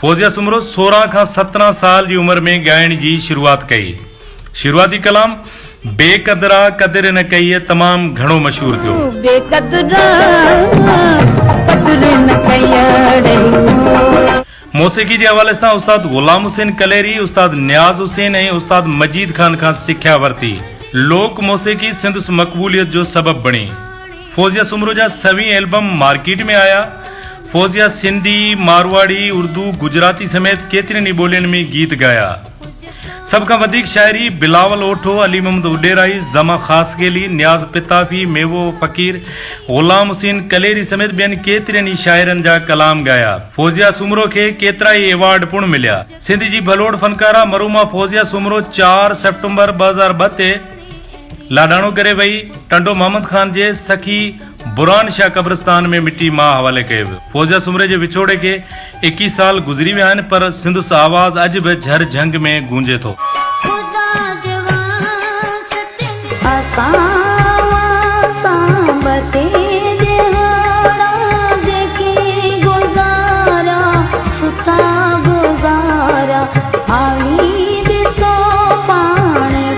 فوزيه سومرو سورهن کان سترهن سال جي عمر ۾ ڳائڻ جي شروعات ڪئي. شروعاتي ڪلام بي قدرا قدر نه ڪيئي تمام گهڻو مشهور ٿيو. بي قدرا قدر نه ڪيئي اڙي. موسيقي جي حوالي سان استاد غلام حسين ڪليري، استاد نياز حسين ۽ استاد مجيد خان کان سکيا ورتي. لوڪ موسيقي سندس مقبوليت جو سبب بڻي. فوزيه سومرو جا سوين البم مارڪيٽ ۾ آيا. فوزيه سنڌي، مارواڙي، اردو، گجراتي سميت ڪيترين ئي ٻولين ۾ گيت ڳايا. سڀ کان وڌيڪ شاعري بلاول اوٺو، علي محمد اڏيرائي، زما خاصخيلي، نياز پتافي، ميوو فقير، غلام حسين ڪليري سميت ٻين ڪيترين ئي شاعرن جا ڪلام ڳايا. فوزيه سومرو کي ڪيترائي ايوارڊ پڻ مليا. سنڌ جي ڀلوڙ فنڪاره مرحومه فوزيه سومرو چار سيپٽمبر ٻه هزار ٻه تي لاڏاڻو ڪري وئي ٽنڊو محمد خان جي سکي برهان شاهه قبرستان ۾ مٽي ماء حوالي ڪئي ويو. فوزيا سومري جي وڇوڙي کي ايڪيهه سال گذري ويا آهن پر سندس آواز اڄ به جهر جهنگ ۾ گونجي ٿو.